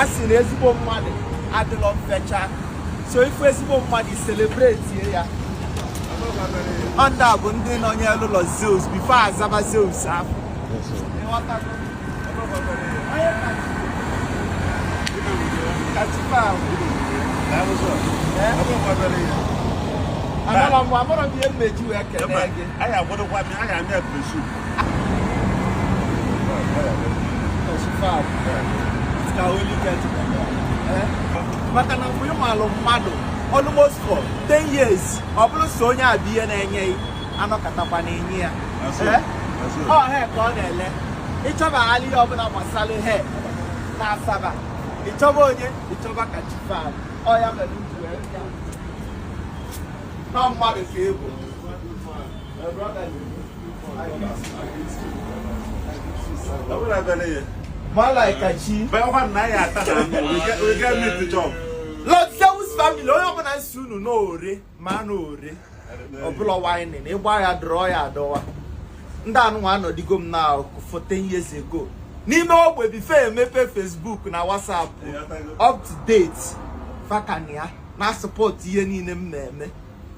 a sị na ezigbo mmadụ adịlọ mfecha so ị fụ ezigbo mmadụ ị celebrate ya ọ ndị a bụ ndị nọnyelụ Lord Zeus before Asaba Zeus afụ anọrọ mgbe amụrụ m ihe m ji wee kelee gị maka na mgbe ị malụ mmadụ almost for 10 years ọ bụrụ so onye a bụ ihe na-enye a nọkatakwa na-enye ya ọ he ka ọ na-ele ị chọba ala ihe ọbụla gbasara he na Asaba ị chọba onye ị chọba Kachifab ọ ya mere nọ mmadụ ka ị bụ Lord Zeus family onye ọbụla si unu n'ore ma anụ ore ọbụla wine na ịgba ya dọrọ ya adọwa ndị anụnwa anọdigo m na for 10 years ago n'ime ogbe before emepe Facebook na WhatsApp up to date fa ka nọ ya na-support ihe niile m na-eme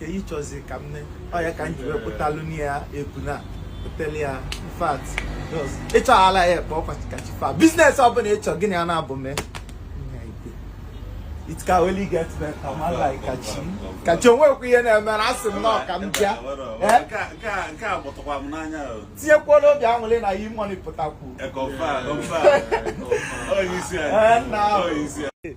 ka ị chọzi ka m ne ọ ya ka m ji wee pụtalụ na ya ebu na pụtali ya in fact ị chọ ala ya ekpe ọkwa Kachifab business ọbụla ị chọ gịnị a na-abụ mee it can only get better man like kachi kachi onwekwa ihe na-emere asị m na ọka m bịa tinyekwala obi anwụle na yi money pụtakwu